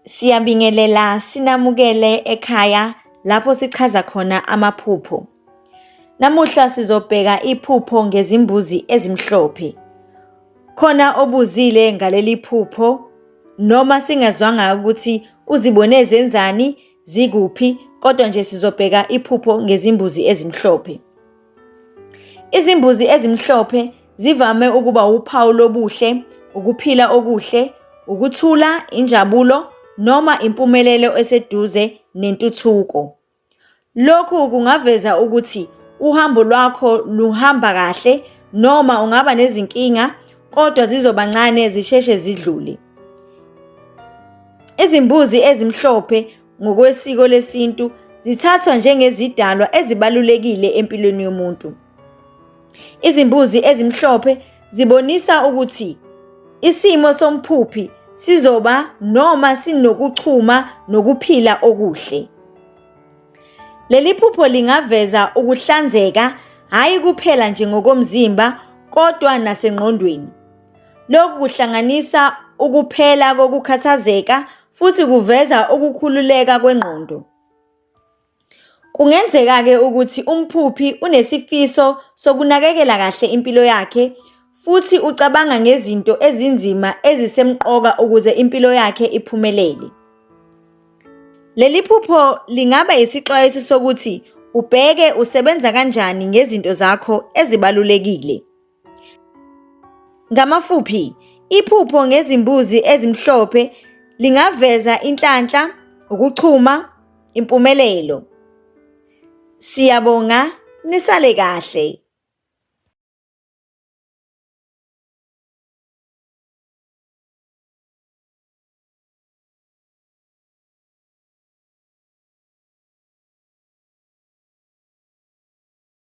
Siyabingelela sinamukele ekhaya lapho sichaza khona amaphupho. Namuhla sizobheka iphupho ngezimbuzi ezimhlophe. Khona obuzile ngaleli phupho noma singezwanga ukuthi uzibone zenzani zikuphi kodwa nje sizobheka iphupho ngezimbuzi ezimhlophe. Izimbuzi ezimhlophe zivame ukuba wuphawu lobuhle, ukuphila okuhle, ukuthula, injabulo noma impumelelo eseduze nentuthuko. Lokhu kungaveza ukuthi uhambo lwakho luhamba kahle noma ungaba nezinkinga kodwa zizoba ncane zisheshe zidlule. Izimbuzi ezimhlophe ngokwesiko lesintu zithathwa njengezidalwa ezibalulekile empilweni yomuntu. Izimbuzi ezimhlophe zibonisa ukuthi isimo somphuphi sizoba noma sinokuchuma nokuphila okuhle. Leli phupho lingaveza ukuhlanzeka hhayi kuphela nje ngokomzimba kodwa nasengqondweni. Lokhu kuhlanganisa ukuphela kokukhathazeka futhi kuveza ukukhululeka kwengqondo. Kungenzeka-ke ukuthi umphuphi unesifiso sokunakekela kahle impilo yakhe futhi ucabanga ngezinto ezinzima ezisemqoka ukuze impilo yakhe iphumelele. Leli phupho lingaba isixwayiso sokuthi ubheke usebenza kanjani ngezinto zakho ezibalulekile. Ngamafuphi, iphupho ngezimbuzi ezimhlophe lingaveza inhlanhla, ukuchuma, impumelelo. Siyabonga nisale kahle.